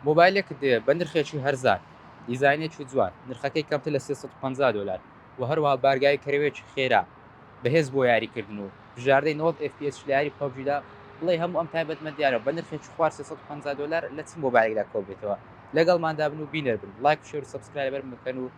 مۆبایلێکت هەیە بە نرخێکی هەرزان، دیزاینێکی جوان، نرخەکەی کەمتر لە سێ سەد و پەنجا دۆلار و هەروەها بارگاوی کەرەوەیەکی خێرا بەهێز بۆ یاریکردن و بژاردەی نەوەد ئێف پی ئێس لە یاری پەبجیدا، بڵێی هەموو ئەم تایبەتمەندیانە بە نرخێکی خوار سێ سەد و پەنجا دۆلار لە چ مۆبایلێکدا کۆببێتەوە؟ لەگەڵماندا بن و بینەر بن، لایک و شێر و سەبسکرایبەرم بکەن و.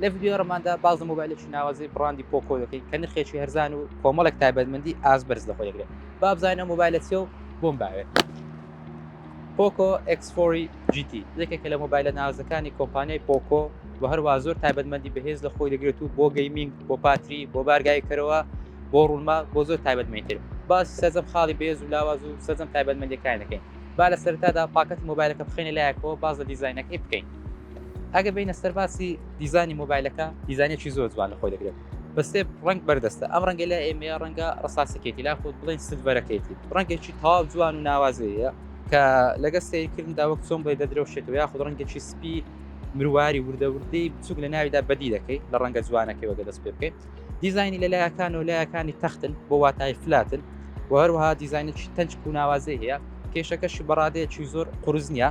لە ڤیدیۆ ڕماندا باز لە مۆبایلێکی ناوازەی بڕاندی پۆکۆ دەکەین کە نرخێکی هەرزان و کۆمەڵێک تایبەتمەندی ئاز بەرز لە خۆ دەگرێت بابزانە مۆبایلە چێ و بۆم باوێت پۆکۆ ئەکسفۆری جیتی یەکێکە لە مۆبایلە نازەکانی کۆمپانیای پۆکۆ و هەروە زۆر تایبەتمەندی بەهێز لە خۆی دەگرێت و بۆ گەیمینگ بۆ پاتری بۆ بارگای کەرەوە بۆ ڕوونما بۆ زۆر تایبەتمەتر باس سەرجەم خاڵی بێز و لاواز و سەرجەم تایبەتمەندەکان دەکەین با لە سەرتادا پاکەتی مۆبایلەکە بخێنە لایەکەوە باز لە دیزینەکەی بکەین ئەگەر بینە سەر باسی دیزانی مۆبایلەکە دیزانێکی زۆر جوان لە خۆی دەگرێت بەسێ ڕنگ بەردەستە ئەم ڕەنگە لە ئێمە ڕەنگە ڕساسەکێتی لا خۆت بڵێن سلڤەرەکەیتی ڕەنگێکی تاو جوان و ناوازەیە کە لەگە سیرکردندا وەک چۆن بڵێ دەدرەوشێتەوە یاخود ڕەنگێکی سپی مرواری وردەوردی بچوک لە ناویدا بەدی دەکەیت لە ڕەنگە جوانەکەی وەگە دەست پێ بکەیت دیزانی لە لایەکان و لایەکانی تەختن بۆ واتای فلاتن و هەروەها دیزانێکی تەنج و ناوازەی هەیە کێشەکەشی بەڕادەیەکی زۆر قرس نییە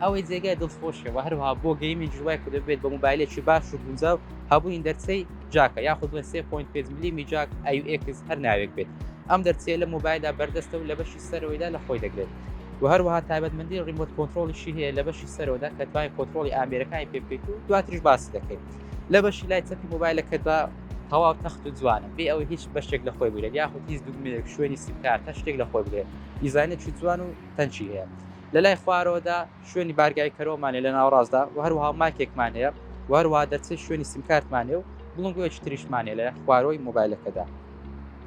ئەوەی جێگای دڵخۆشیە و هەروها بۆ گەیمنج وای کە دەبێت بە موبایلێکی باش و گونجاو هەبووین دەرچەی جاکە یاخود بە 3.5 ملیمی جاک ئەX هەر ناوێک بێت ئەم دەرچەیە لە موبایلدا بەردەستە و لە بەشی سەرەوەیدا لە خۆی دەگرێت و هەروها تایبەتمەندی ڕیمۆت کۆنتترۆلیشی هەیە لە بەشی سەرەوەدا کە توای کۆنتترۆلی ئامێرەکانی پێ بکەیت و دواتریش باسی دەکەیت لە بەشی لای چەپی موبایلەکەدا تەواو تەخت و جوانە بێ ئەوەی هیچ بەشێک لە خۆی بگرێت یاخود هیچ دوگمێک شوێنی سیکار تەشتێک لە خۆی بگرێت دیزانێکی جوان و تەنچی هەیە لە لای خوارەوەدا شوێنی بارگای کەرەوەمان هەیە لە ناوەڕاستدا و هەروەها مایکێکمان هەیە و هەروەها دەرچەی شوێنی سیمکارتمان هەیە و بڵندگۆیەکی تریشمان هەیە لە لای خوارەوەی مۆبایلەکەدا.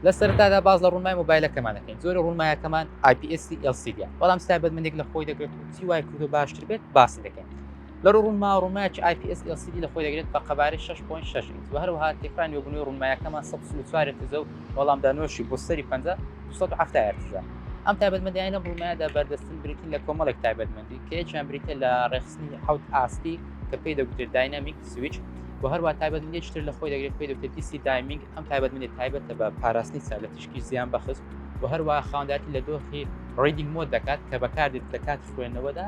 لە سەرەتادا باس لە ڕوونمای مۆبایلەکەمان دەکەین جۆرە ڕوونمایەکەمان IPSC LCD ە بەڵام ستایبەتمەندێک لە خۆی دەگرێت و چی وای کردووە باشتر بێت باسی دەکەین. لە ڕووی ڕوونما، ڕوونمایەکی IPS LCD لە خۆی دەگرێت بە قەبارەی شەش پۆینت شەش ئینچ، و هەروەها تێکڕای نوێبوونەوەی ڕوونمایەکەمان سەد و چل و چوار هێرتزە و وەڵامدانەوەشی بۆ سەری پەنجا، دوو سەد و حەفتا هێرتزە. ئەم تایبەتمەندییانەی لەم ڕوونمایەدا بەردەستن بریتین لە کۆمەڵێک تایبەتمەندی، کە یەکیان بریتییە لە ڕێکخستنی حەوت ئاستی کە پێی دەگوترێت داینامیک سویچ، و هەروەها تایبەتمەندییەکی تر لە خۆی دەگرێت پێی دەوترێت DC Dimming، ئەم تایبەتمەندییە تایبەتە بە پاراستنی چاو لە تیشکی زیانبەخش، و هەروەها خاوەندارێتی لە دۆخی Reading Mode دەکات کە بەکاردێت لە کاتی خوێندنەوەدا.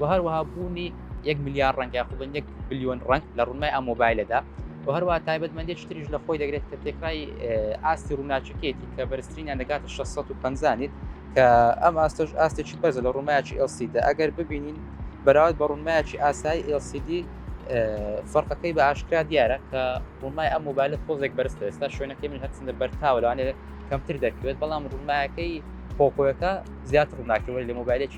و هەروەها بوونی یەک ملیار ڕەنگ یاخود بن یەک بلیۆن ڕەنگ لە ڕوونای ئەم مۆبایلەدا و هەروە تایبەتمەندی شتریش لە خۆی دەگرێت کە تێکرای ئاستی ڕووناچەکەیەتی کە بەرزترینیان دەگاتە 650 کە ئەم ئاستش ئاستێکی بەرزە لە ڕوومایکی LCD ئەگەر ببینین بەراورد بە ڕوونمایکی ئاسایی LCD فەرقەکەی بە ئاشکرا دیارە کە ڕوونمای ئەم مۆبایلە تۆزێک بەرزتە ئێستا شوێنەکەی من هەرچندە بەرتاوە لەوانێت کەمتر دەکرێت بەڵام ڕوونمایەکەی پۆکۆیەکە زیاتر ڕووناکەوەی لە مۆبایلێکی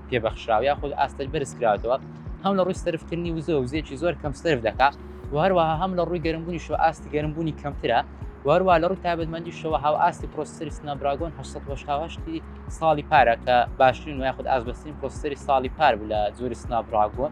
پێ بەخشراوە یاخود ئاستەر بەرز کراوەتەوە هەم لە ڕووی سرفکردنی وزە وزێکی زۆر کەم سرف دەکا و هەروەها هەم لە ڕووی گەرمبوونی شو ئاستی گەرمبوونی کەمترە وەروە لە ڕووی تابەتمەندی شەوە هاو ئاستی پرۆسری سنابراگۆن 1970 ساڵی پارە کە باشترین و یاخود ئازبەستین پرۆسری ساڵی پار بوو لە زۆری سنابراگۆن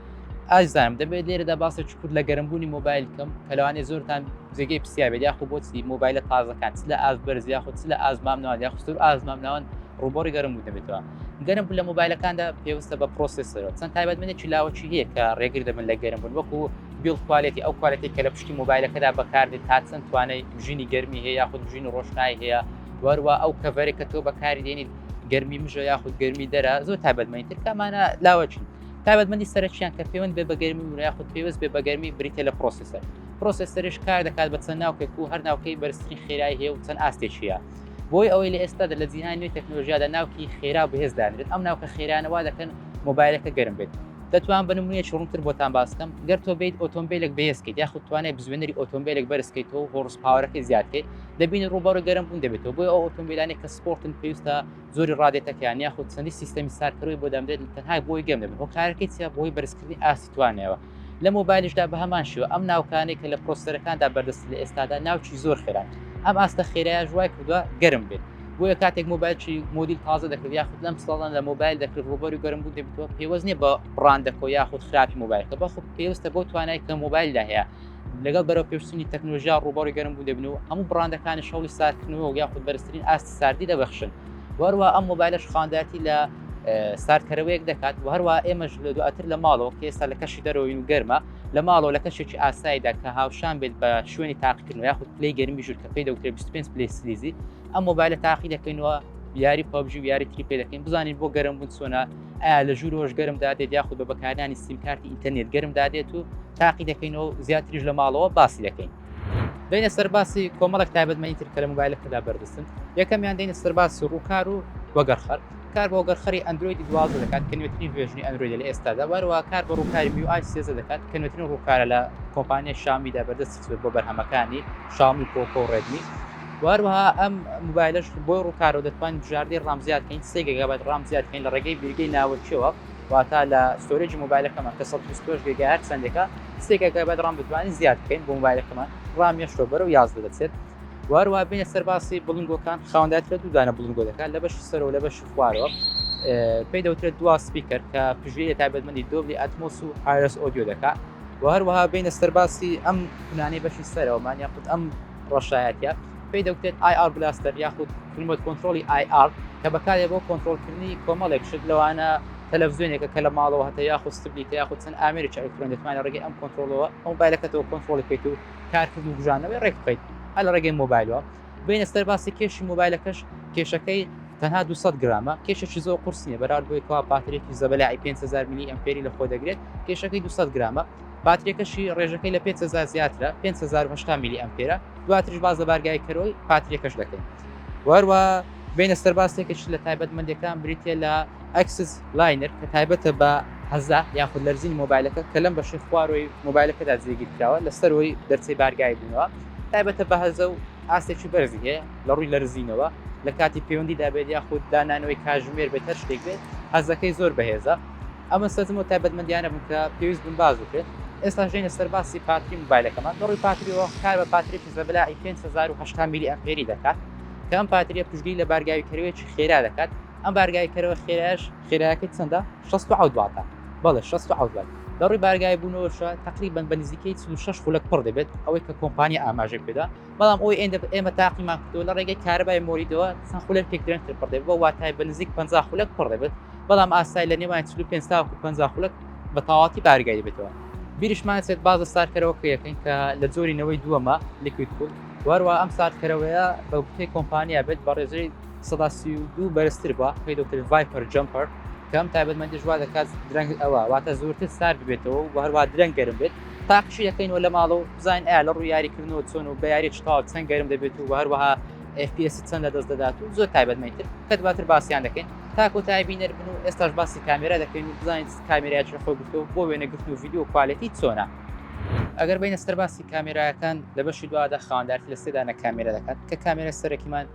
ئازایم دەبێت لێرەدا باسە چکوت لە گەرمبوونی مۆبایل کەم کە لەوانێ زۆرتان جێگەی پرسیابێت یاخۆ بۆچی مۆبایلە تازەکان لە ئاز بەرز یاخود لە ئازمام ناوان یا خستور ئازمام ناوان ڕوبۆڕی گەرم بوو دەبێتەوە گەرم بوو لە مۆبایلەکاندا پێویستە بە پرۆسسەرەوە چەند تایبەت منێکی لاوەکی هەیە کە ڕێگر دەبن لە گەرم بوون وەکو بیڵ کوالێتی ئەو کوالەتی کە لە پشتی مۆبایلەکەدا بەکاردێت تا چەند توانای ژینی گەرمی هەیە یاخود ژین و ڕۆشنایی هەیە وەروە ئەو کەڤەرێک کە تۆ بەکاری دێنیت گەرمی مژە یاخود گەرمی دەرە زۆر تابەتمەین ترکەمانە لاوەچین تایبەتمەندی سەرەکیان کە پەیوەند بێ بەگەرمی و یاخود پێوەست بێ بەگەرمی بریتە لە پرۆسیسەر پرۆسیسەرش کار دەکات بە چەند ناوکێک و هەر ناوکەی بەرزترین خێرای هەیە و چەند ئاستێکیە بۆی ئەوەی لە ئێستادا لە جیهان نوێ تەکنۆلژیادا ناوکی خێرا بەهێز دانرێت ئەم ناوکە خێرانەوا دەکەن مۆبایلەکە گەرم بێت دەتوان بە نمونەیەکی ڕوونتر بۆتان باسکەم گەر تۆ بیت ئۆتۆمبیلێک بەهێزکەیت یاخود توانای بزوێنەری ئۆتۆمبیلێک بەرزکەیتەوە هۆڕس پاوەەکەی زیادکەیت دەبینی ڕووبەڕی گەرم بوون دەبێتەوە بۆی ئەو ئۆتۆمبیلانی کە سپۆرتن پێویستە زۆری ڕادێتەکەیان یاخود چەندی سیستەمی سارکەرەوەی بۆ دەمرێت تەنها بۆی گەم دەبن هۆکارەکەی چیە بۆی بەرزکردنی ئاستی توانەوە لە مۆبایلشدا بە هەمان شێوە ئەم ناوکانەی کە لە پرۆسەرەکاندا بەردەست لە ئێستادا ناوچی زۆر خێران ئەم ئاستە خێرایە ژوای کردووە گەرم بێت بۆیە کاتێک مۆبایلچی مۆدیل تازە دەکرد یاخود لەم ساڵان لە مۆبایل دەکرد ڕوبەری گەرم بوو دەبیتەوە پێوەست نیە بە ڕاندەکۆ یاخود خراپی مۆبایلکە بەخود پێویستە بۆ توانای کە مۆبایلدا هەیە لەگەڵ بەرەوپێشچونی تەکنۆلژیا ڕووبەڕی گەرم بوو دەبن و هەموو بڕاندەکانی شەڵی ساردکردنەوە و یاخود بەرزترین ئاستی ساردی دەبەخشن وەروە ئەم مۆبایلش خانداتی لە ساردکەرەوەیەک دەکات و هەروە ئێمەش لە دواتر لە ماڵەوە کە ئێستا لە کەشی دەرەوەین و گەرمە لە ماڵەوە لە کەشێکی ئاسایدا کە هاوشان بێت بە شوێنی تاقیکردن یاخود پلی گەرمی ژور کە پێی دەوتێ 25 پلی سلیزی ئەم مۆبایلە تاقی دەکەینەوە یاری پبجی و یاری تری پێ دەکەین بزانین بۆ گەرم بوون چۆنا ئایا لە ژوورەوەش گەرم دادێت یاخود بە بەکارانی سیمکارتی ئینتەرنێت گەرم دادێت و تاقی دەکەینەوە زیاتریش لە ماڵەوە باسی دەکەین. دەینە سەرباسی کۆمەڵک تایبەتمەنی تر کە لە مۆبایلەکەدا بەردەستن یەکەمیان دەینە سەرباسی ڕووکار و وەگەڕخەر کار بۆ گەرخەری ئەندرویدی دوازە دەکات کە نوێترین ڤێژنی ئەندرویدە لە ئێستادا وەروە کار بە ڕووکاری میوآی سێزە دەکات کە نوێترین ڕووکارە لە کۆمپانیای شامیدا بەردەست سوێد بۆ بەرهەمەکانی شاومی پۆکۆ و ڕێدمی و هەروەها ئەم موبایلش بۆی ڕووکارەوە دەتوانین بژاردەی ڕام زیاد کەین سێ گەگابایت ڕام زیاد کەین لە ڕێگەی بیرگەی ناوەکیەوە واتا لە ستۆرێجی موبایلەکەمان کە 125 گێگا هەر چەندێکە سێ گەگابایت ڕام دەتوانین زیاد کەین بۆ موبایلەکەمان ڕام یەشتۆ بەرە و یازدە دەچێت واروا بینە سەرباسی بڵنگۆکان خاوەندات کرێت و دانە بڵنگۆ دەکات لە بەشی سەرەوە لە بەشی خوارەوە پێی دەوترێت دوا سپیکەر کە پژویە تایبەتمەندی دۆبلی ئەتمۆس و ئارس ئۆدیۆ دەکات و هەروەها بێینە سەر باسی ئەم کونانەی بەشی سەرەوەمان یاخود ئەم ڕەشایەتە پێی دەوترێت IR Blaster یاخود ریمۆت کۆنترۆڵی IR کە بەکارێ بۆ کۆنترۆڵکردنی کۆمەڵێک شت لەوانە تەلەفزیۆنێکە کە لە ماڵەوە هەتە یاخود ستبلیتە یاخود چەند ئامێرێکی ئەلکترۆن دەتوانێت ڕێگەی ئەم کۆنترۆڵەوە ئەو مۆبایلەکەتەوە کۆنترۆڵی بکەیت و کارکردن و بوژانەوەی ڕێک بخەیت هەر لە ڕێگەی مۆبایلەوە بێینە سەر باسی کێشی مۆبایلەکەش کێشەکەی تەنها 200 گرامە کێشێکی زۆر قرس نیە بەراورد بۆی کەوا باترێکی زەبەلاعی 500 میلی ئەمپێری لە خۆ دەگرێت کێشەکەی 200 گرامە پاترێکەشی ڕێژەکەی لە 500 زیاترە 500 میلی ئەمپێرە دواترش باز لە بارگای کەرۆی پاترێکەش دەکەین وەروە بینە سەرباسێکش لە تایبەت مندەکان بریتە لە ئەکسس لاینەر کە تایبەتە بە هەزا یاخود لەرزین مۆبایلەکە کە لەم بەشی خوارەوەی مۆبایلەکەدا جێگیرکراوە لەسەرەوەی دەرچەی بارگای بووە تایبەتە بە هەزە و ئاستێکی بەرزی هەیە لە ڕووی لەرزینەوە لە کاتی پەیوەندیدا بێت یاخود دانانەوەی کاژمێر بێت هەر شتێک بێت هەزەکەی زۆر بەهێزە ئەمە سەزم و تایبەتمەندیانە بوون کە پێویست بن باز بکرێت ئێستا ژێنە سەرباسی پاتری موبایلەکەمان دەڕی پاتریەوە کار بە پاترێکی زەبلاعی 5 میلی ئەمپێری دەکات کە ئەم پاتریە پشگیری لە بارگاوی کەروێکی خێرا دەکات ئەم بارگای کەرەوە خێراش خێراکە چەندە شەست و حەوت واتا بەڵێ شەست و حەوت وات لە ڕووی بارگای بوونەوەشە تقریبان بە نزیکەی چ و شەش خولەک پڕ دەبێت ئەوەی کە کۆمپانیا ئاماژەی پێدا بەڵام ئەوەی ئێندە ئێمە تاقیمان کردو لە ڕێگەی کارەبای مۆریدەوە چەند خولەک پێک درێنتر پڕ دەبێت بە واتای بە نزیک 50 خولەک پڕ دەبێت بەڵام ئاسای لە نێوان 45 تا 50 خولەک بە تەواتی بارگای دەبێتەوە بیرشمان سێت باز لە سارکەرەوە پێەکەین کە لە جۆری نەوەی دووەمە لیکوید کوول واروا ئەم ساردکەرەوەیە بە گوتەی کۆمپانیا بێت بە ڕێژەی سەدا سی و دوو بەرزتر بە پێی دکتر ڤایپەر جەمپەر کەم تایبەتمەندی ژوا دەکات درەنگ ئەوە واتە زۆرتر سارد بێتەوە و هەروە درەنگ گەرم بێت تاقشی دەکەینەوە لە ماڵەوە بزانین ئایا لە ڕوو یاریکردنەوە چۆن و بە یاری چتاو چەند گەرم دەبێت و هەروەها FPS چەند لە دەست دەدات و زۆر تایبەتمەتر کە دواتر باسییان دەکەین تاکۆ تای بینەر بن و ئێستاش باسی کامێرا دەکەین و بزانین کامێراچ خۆ گفتو بۆ وێنەگرتن و ویددیو کوالەتی چۆنە ئەگەر بینە سەرباسی کامێراەکان لە بەشی دوادا خاندار لە سێدانە کامێرە دەکات کە کامێرە سەرەکیمان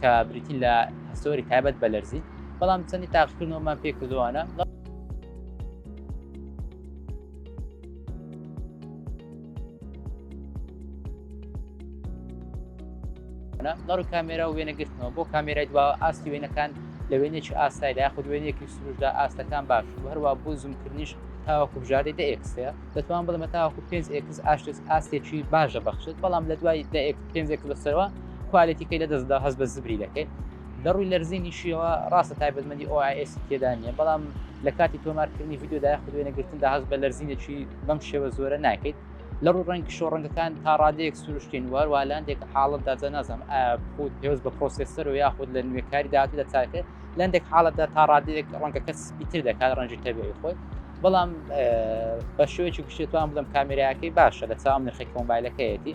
کە بریتین لە هەستۆری تایبەت بە لەرزی بەڵام چەندی تاقیکردنەوەمان پێ کردوانە لەڕ کامێرا و وێنەگرتنەوە بۆ کامێرای دوا ئاستی وێنەکان لە وێنێکی ئاسایدا یاخود وێنێکی سروشدا ئاستەکان باش و هەروە بۆ زومکردنیش تاوەکو بژاردەی دە ئێکسەیە دەتوان بڵمە تاوەکو پێنج ئێکس ئاشتس ئاستێکی باشە بەخشێت بەڵام لە دوای دە پێنجێک بەسەرەوە کوالێتیکەی لە دەستدا هەست بە زبری دەکەێت لە ڕووی لەرزینی شیەوە ڕاستە تایبەتمەندی ئۆئس تێدا نیە بەڵام لە کاتی تۆمارکردنی یددیودا خودێنەگرتندا هەست بە لەرزینێکی بەم شێوە زۆرە ناکەیت لە ڕوو ڕەنگ شۆڕەنگەکان تا ڕادەیەک سروشتین وار والاندێک حاڵت داجە نازم خود پێوز بە پرۆسسەر و یاخود لە نوێکاری داتی لە تاکە لەندێک حاڵتدا تا ڕادەیەک ڕەنگەکە سپیتر دەکات ڕەنجی تەبیعی خۆی بەڵام بە شوێکی گشتێتوان بدەم کامێراەکەی باشە لە چاوم نرخی کۆمبایلەکەیەتی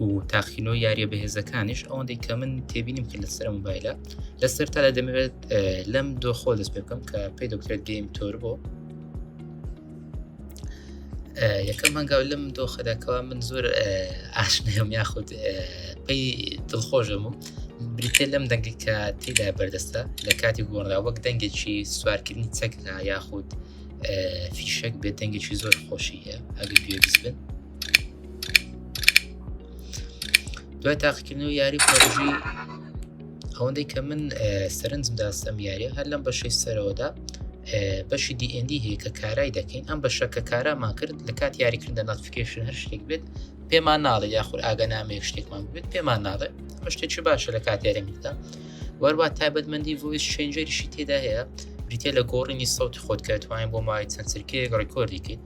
و تاقینۆ یاریە بەهێزەکانیش ئەوەندەی کە من تێبینیم کرد لەسەر موبایلە لە سەرتا لە دەمەوێت لەم دۆخۆ دەست پێ بکەم کە پێی دەکرێت گەیم تۆر بۆ یەکەم هەنگاو لەم دۆخەدەکەوا من زۆر ئاشنەم یاخود پێی دڵخۆشم و بریتێ لەم دەنگی کە تێدا بەردەستە لە کاتی گۆڕدا وەک دەنگێکی سوارکردنی چەکدا یاخود فیشەک بێت دەنگێکی زۆر خۆشی هەیە ئەگەر گوێ بن دوای تاقیکردن و یاری پۆژی ئەوەندەی کە من سەرنجم داستەم یاریە هەر لەم بەشەی سەرەوەدا بەشی دیئندی هەیە کە کارای دەکەین ئەم بەشە کە کارامان کرد لە کات یاریکردە ناتفیکشن هەر شتێک بێت پێمان ناڵێ یاخود ئاگەنامەیە شتێکمان بێت پێمان ناڵێ شتێکی باشە لە کات یاریدا وەروە تایبەتمەندی ڤۆیس چنجەریشی تێدا هەیە بریتە لە گۆڕینی سەوتی خۆت کە توانین بۆ ماوەی چەند سرکەیەک ڕێکۆردیکەیت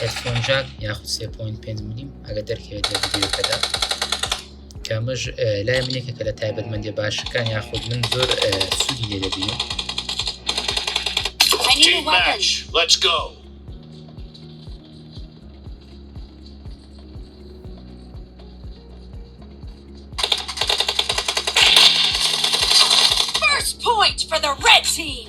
هێدفۆن جاک یاخود 3.5 ملیم ئەگە دەرکەوێت لە ڤیدیۆکەدا کەمەش لای منێکە کە لە تایبەتمەندی باشەکان یاخود من زۆر سوودی لێ دەبینم Let's go. First point for the red team.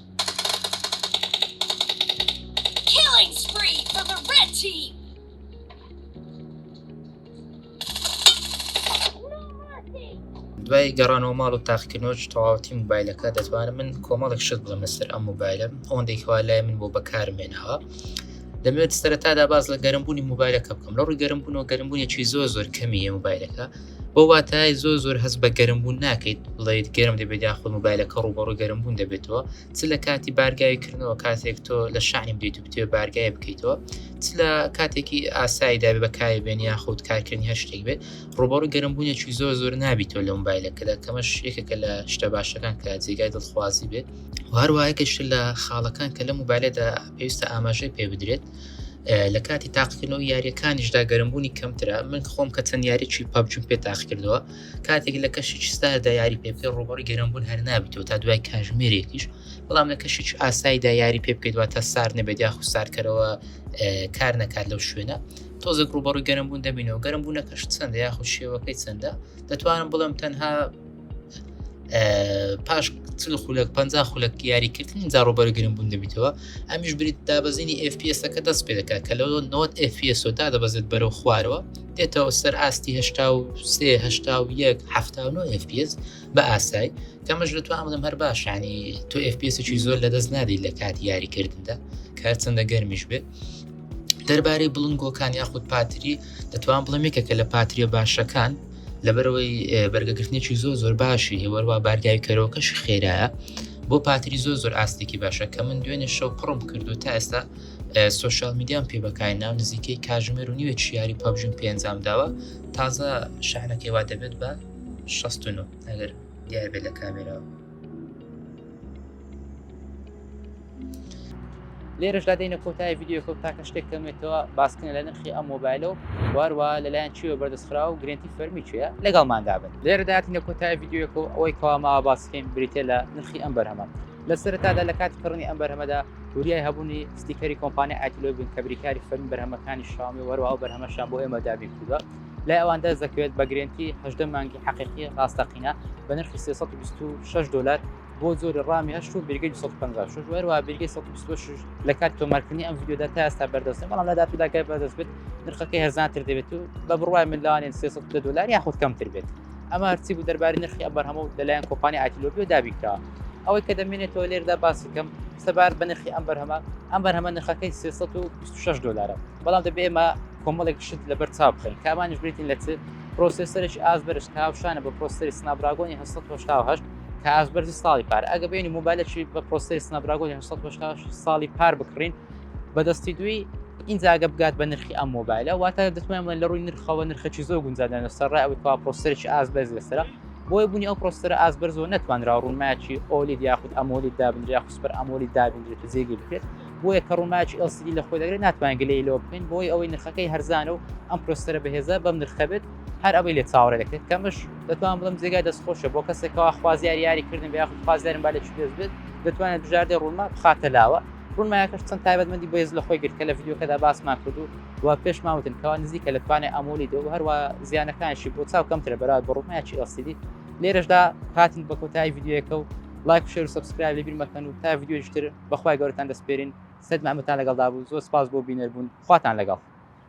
Killing spree for the red team! دوای گەڕانەوە ماڵ و تاقکردنەوە تەواوەتی موبایلەکە دەتوانم من کۆمەڵێک شت بڵم لەسەر ئەم موبایلم ئەوەندێکوا لای من بۆ بەکارمێنەوە دەمێت سەرەتادا باز لە گەرمبوونی موبایلەکە بکەم لە ڕووی گەرمبوون و گەرمبوونیی زۆر زۆر کەمیە موبایلەکە بەو واتایەی زۆر زۆر هەست بە گەرمبوون ناکەیت بڵێیت گەرم دەبێت یاخود موبایلەکە ڕووبەڕووی گەرمبوون دەبێتەوە چ لە کاتی بارگاوی کردنەوە کاتێک تۆ لە شانی بدەیت و بتێ بارگای بکەیتەوە چ لە کاتێکی ئاسایی دابێ بەکاری بێن یاخود کارکردنی هەر شتێک بێت ڕووبەڕوو گەرمبوونێکی زۆر زۆر نابیتەوە لە موبایلەکەدا کەمەش یەکێکە لە شتە باشەکان کە جێگای دڵخوازی بێت هەروایەکەش لە خاڵەکان کە لە موبایلەدا پێویستە ئاماژەی پێ بدرێت لە کاتی تاقیکردنەوە یاریەکانیشدا گەرمبوونی کەمترە من خۆم کە چەند یاریی پاپجم پێ تاقیکردەوە کاتێک لە کەشی چستادا یاری پێ بکە ڕوبڕی گەرمبوون هەر نابێتەوە تا دوای کاژمێرێکیش بەڵام لە کەشی ئاساییدا یاری پێ بکەیتوە تا سار نەبێت یاخ سارکەرەوە کار نەکات لەو شوێنە تۆزێک ڕوبڕی گەرمبوون دەبینەوە گەرمبوونەکەش چەندە یاخود شێوەکەی چەندە دەتوانم بڵم تەنها پاش چل خولک پ خولک یاریکردن جا ڕۆبەرگرن بوون دەبیتەوە ئەمیش بریت دابەزینی FPSەکە دەست پێ دەکات کە لە 90 FPS دا دەبەزێت بەرەو خوارەوە دێتەوە سەر ئاستی FPS بە ئاسای کەمەش لە تو ئەمدەم هەر باشانی تو FPSێکی زۆر لە دەست نادی لە کات یاریکردندا کار چەندە گەرمیش بێت دەربارەی بڵنگۆکان یاخود پاتری دەتوان بڵێ میکە کە لە پاتریە باشەکان لەبەرەوەی بەرگەگرتنێکی زۆ زۆر باشی هێوەروا بارگای کەرۆکەش خێرایە بۆ پاتری زۆ زۆر ئاستێکی باشە کە من دوێنێ شەو پڕم کردو تا ئێستا سوۆشال میدیان پێ بەکای ناو نزیکەی کاژمێر و نیوە چیاری پەبژم پێنجام داوە تازە شانەکەی وا دەبێت بە 16 ئەگەر دیار بێت لە کامێراوە لێرەشدا دەینە کۆتای یددیوکە و تاکە شتێک کەمێتەوە باسکن لە نرخی ئەم مۆبایلە و واروا لەلایەن چیوە بەردەستخرا و گرنتی فەرمی چێە لەگەڵ مادابن لێرەداتینە کۆتای یددیوکە و ئەوەی کەوامەوە باسکەین بریتە لە نرخی ئەم بەرهەمە لە سەرتادا لە کاتی کڕنی ئەم بەرهەمەدا وریای هەبوونی ستیکەری کۆمپانی ئایتلۆ بن کە بریکاری فەرمی بەرهەمەکانی شامی وەروا و بەرهەمەشان بۆ ئێمە دابین کردوە لای ئەوان دەست دەکەوێت بە گرنتی هەدە مانگی حقیقی ڕاستەقینە بە نرخی 326 دلار بۆ زۆری ڕامی هەشت و بیرگەی 1956 وەروە بیرگەی 1926 لە کات تۆمارکردنی ئەم ویددیودا تا ئێستا بەردەستە بەڵام لە دااتوداکە بەدەست بێت نرخەکەی هەزانتر دەبێت و بە بڕوای ملاوانێن 300 دلار یاخود کەمتر بێت ئەمە هەرچی بوو دەرباری نرخی ئەبەر هەموو لەلایەن کۆپانی ئایتلۆبیۆ دابیکە ئەوەی کە دەمێنێتەوە لێردا باسی کەم سەبار بە نرخی ئەم بەرهەمە ئەم بەرهەمە نرخەکەی 326 دلارە بەڵام دەبێ ئێمە کۆمەڵێک شت لەبەر چاو بخین کامانش بریتین لە چ پرۆسسەرش ئاز بەرش کاوشانە بە پرۆسری سنابراگۆنی 1970 کە ئاست بەرزی ساڵی پار ئەگە بینی موبایلەکی بە پۆستی سنابراگۆ 1970 ساڵی پار بکڕین بەدەستی دوی ئینجاگە بگات بە نرخی ئەم مۆبایلە واتە دەتوانم لە ڕووی نرخەوە نرخەکی زۆر گونجادان لە سەرڕای ئەوەی پا پرۆسەرێکی ئاز بەرز لەسرە بۆی بوونی ئەو پرۆسەر ئاز بەر زۆر نتوانرا ڕوونماکی ئۆلید یاخود ئەمۆلی دابنریا خوسپەر ئەمۆلی دابنرێت جێگی بکرێت بۆیە کە ڕووماکی ئەسیدی لە خۆی دەگرێت ناتوان گلەی لۆ بکەین بۆی ئەوەی نرخەکەی هەرزانە و ئەم پرۆسەرە بەهێزە بەم نرخەبێت هەر ئەوەی لێ چاوەڕێ دەکرێت کەمش دەتوان بڵم جێگای دەست خۆشە بۆ کەسێکەوە خوازیاری یاریکردن بە یاخود خوازیارم با لە چ دەست بێت دەتوانێت بژاردە ڕوونما بخاتە لاوە ڕوونمایەکەش چەند تایبەتمەندی بەێز لە خۆی گرت کە لە ڤیددیوکەدا باسمان کردو و پێش ماوتن کەوا نزیکە لە توانێت ئەمۆلی دۆ هەروە زیانەکانشی بۆ چاو کەمترە بەرات بە ڕوونمایکی ئەسیدی لێرەشدا هاتن بە کۆتایی ڤیددیوەکە و لایک شێر و سبسکرایب لە بیرمەکەن و تا ڤیددیوشتر بەخوای گەورتان دەستپێرین سەدمامەتان لەگەڵدا بوو زۆر سپاس بۆ بینەربوون خواتان لەگەڵ